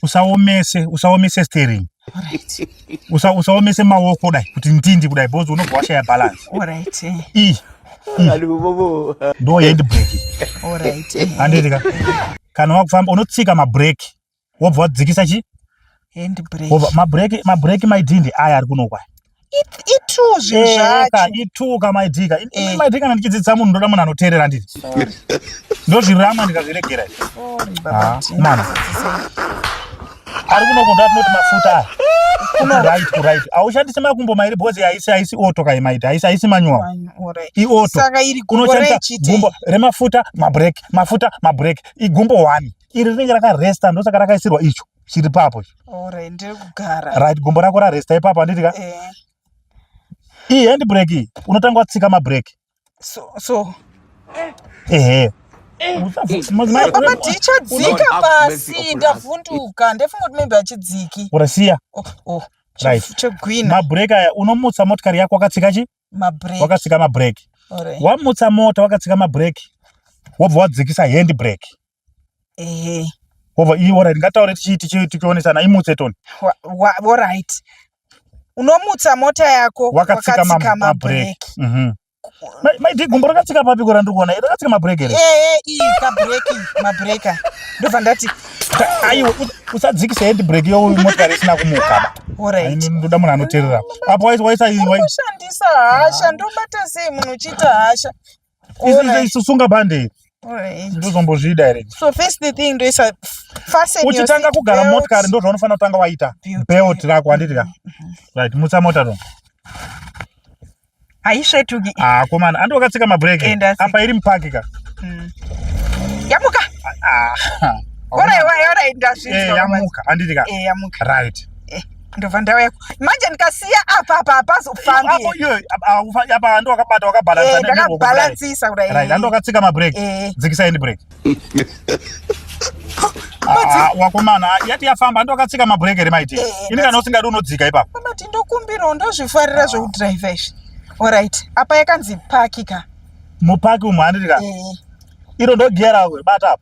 usaomese usaomese steering usa usaomese maoko kudai kuti ndindi kudai because unobva washaya balance alright eh. i ndo hand brake alright eh. handiti ka kana wakufamba unotsika mabrake wobva wadzikisa chi hand brake mabrake mabrake maidhindi aya ari kunokwaya itrue zvinhu eh, zvacho itrue ka my dear ini eh. my dear kana ndichidzidzisa munhu ndoda munhu anoteerera ndiri ndozvirama ndikazviregera ah, mwana ari kunokonda atinoti mafuta aya kuno right ku right aushandisi makumbo mairi because haisi haisi oto kai maiti haisi haisi manual ioto unoshandisa gumbo remafuta mabrek mafuta mabrek igumbo one iri rinenge rakaresta ndosaka rakaisirwa icho chiri papo right gumbo rako raresta ipapo handiti ka eh. iyi hand break iyi unotanga watsika mabreak so, so. ehe ndichadzika eh. pasi ndavhunduka ndefunga kuti maybe achidziki urasiya oh, oh, chegwina mabreak aya unomutsa motikari yako wakatsika chi wakatsika mabreak wamutsa mota wakatsika mabreak wobva wadzikisa hand break ehe over iyi ora ringataure tichiiti chii tichionesana imutse toni orit unomutsa mota yako wakatsika mabrek mhm. maidi gumbo rakatsika papi kora ndiri kuona rakatsika mabrek here ee iyi kabrek mabreka ndobva ndati aiwa usadzikisa hendi brek yo motokari isina kumukaba ndoda munhu anoterera apo waisandisa hasha ndobata sei munhu uchiita hasha sunga bande ndozombozvida here so first the thing ndoisa fasten uchitanga kugara motikari ndo zvaunofanira kutanga waita belt rako handiti ka mm-hmm. right mutsa mota to haisvetuki ah komana andi wakatsika mabreke apa iri mupaki ka mm. yamuka ah, ah. orai orai orai ndazvinzwa eh, yamuka handiti ka eh, yamuka right ndobva ndauya manje ndikasiya apa apa apazofambiyndakabalansisa kudaiandokatsika mabreak eh. dzikisa end break ah, wakomana yati yafamba ndokatsika mabreak here maiti eh, ini kana usingadi unodzika ipapo mati ndokumbirawo ndozvifarira zvekudrive izvi orit apa yakanzi paki ka mupaki umhandirika eh. iro ndogiya rawe bata apo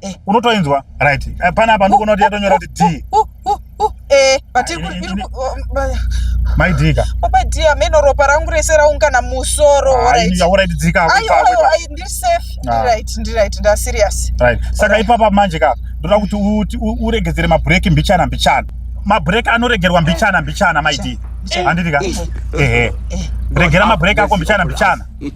eh. unotoinzwa right eh, pana apa ndikuona kuti yatonyora kuti d eh, maidika baba dia meno ropa rangu rese raungana musoro ah, ah. saka ipapa manje ka ndoda kuti uregedzere mabreak mbichana mbichana mabreak anoregerwa mbichana mbichana maidika andidika ehe regera mabreak ako mbichana mbichana